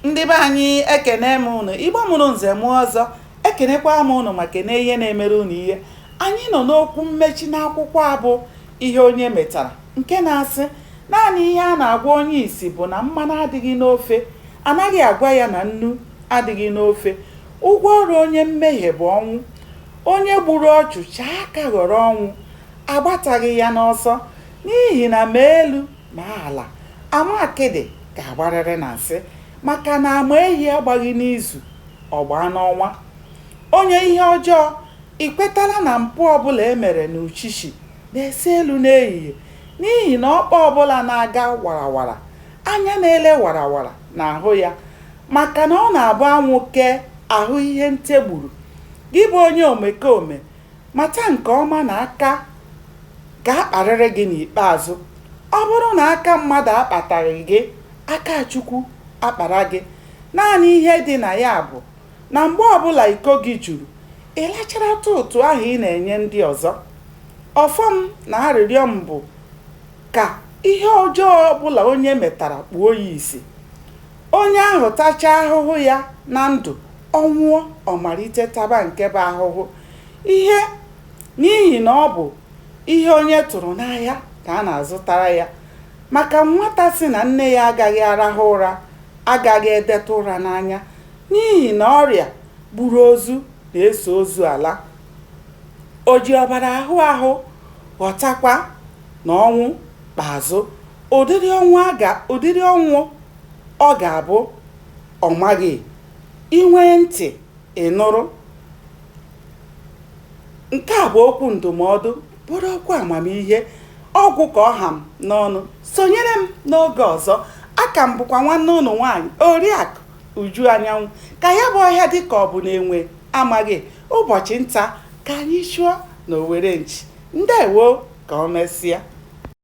Ndị be anyị ekene m ụnụ, Igbo mụrụ nze mụọ ọzọ, ekenekwa m ụnụ ma kene ihe na-emere ụnụ ihe. Anyị nọ n'okwu mmechi n'akwụkwọ a bụ ihe onye metara nke na-asị naanị ihe a na-agwa onye isi bụ na mmanụ adịghị n'ofe, anaghị agwa ya na nnu adịghị n'ofe. Ụgwọ ọrụ onye mmehie bụ ọnwụ. Onye gburu ọchụ chaa aka ghọrọ ọnwụ, agbataghị ya n'ọsọ n'ihi na ma elu Ma ala ama akịdị ga-agbarịrị na nsị maka na ama ehi agbaghị n'izu, ọ gbaa n'ọnwa. Onye ihe ọjọọ, i kwetala na mpụ ọbụla e mere n'uchichi na-ese elu n'ehihie n'ihi na ọkpa ọbụla na-aga warawara, anya na-ele warawara na-ahụ ya maka na ọ na-abụ anwụ kee, a hụ ihe nte gburu. Gị bụ onye omekome Mata nke ọma na aka ga-akparịrị gị n'ikpeazụ. Ọ bụrụ na aka mmadụ akpataghị gị, aka Chukwu akpara gị. Naanị ihe dị na ya bụ na mgbe ọbụla iko gị juru, ị lacharatụ ụtụ ahụ ị na-enye ndị ọzọ. Ọfọ m na arịrịọ m bụ ka ihe ọjọọ ọbụla onye metara kpuo ya isi. Onye ahụ tachaa ahụhụ ya na ndụ, ọ nwụọ, ọ malite taba nke bụ ahụhụ ihe n'ihi na ọ bụ ihe onye tụrụ n'ahịa ka a na-azụtara ya. Maka nwata sị na nne ya agaghị arahụ ụra agaghị edetụ ụra n'anya n'ihi na ọrịa gburu ozu na-eso ozu ala. O ji ọbara ahụ ahụ ghọtakwa na ọnwụ Kpeazụ, ụdịrị ọnwụ ọ ga-abụ ọ maghị, i nwee ntị, ị nụrụ. Nke a bụ okwu ndụmọdụ, bụrụ okwu amamihe, ọ gwụ ka ọ ha m n'ọnụ. Sonyere m n'oge ọzọ. A ka m bụkwa nwanne ụnụ nwaanyị, Oriakụ Uju Anyanwụ. Ka ya bụ ọhịa dị ka ọ bụ na enwe amaghị, ụbọchị nta ka anyị chụọ n'owere nchi. Ndewo! Ka o mesịa.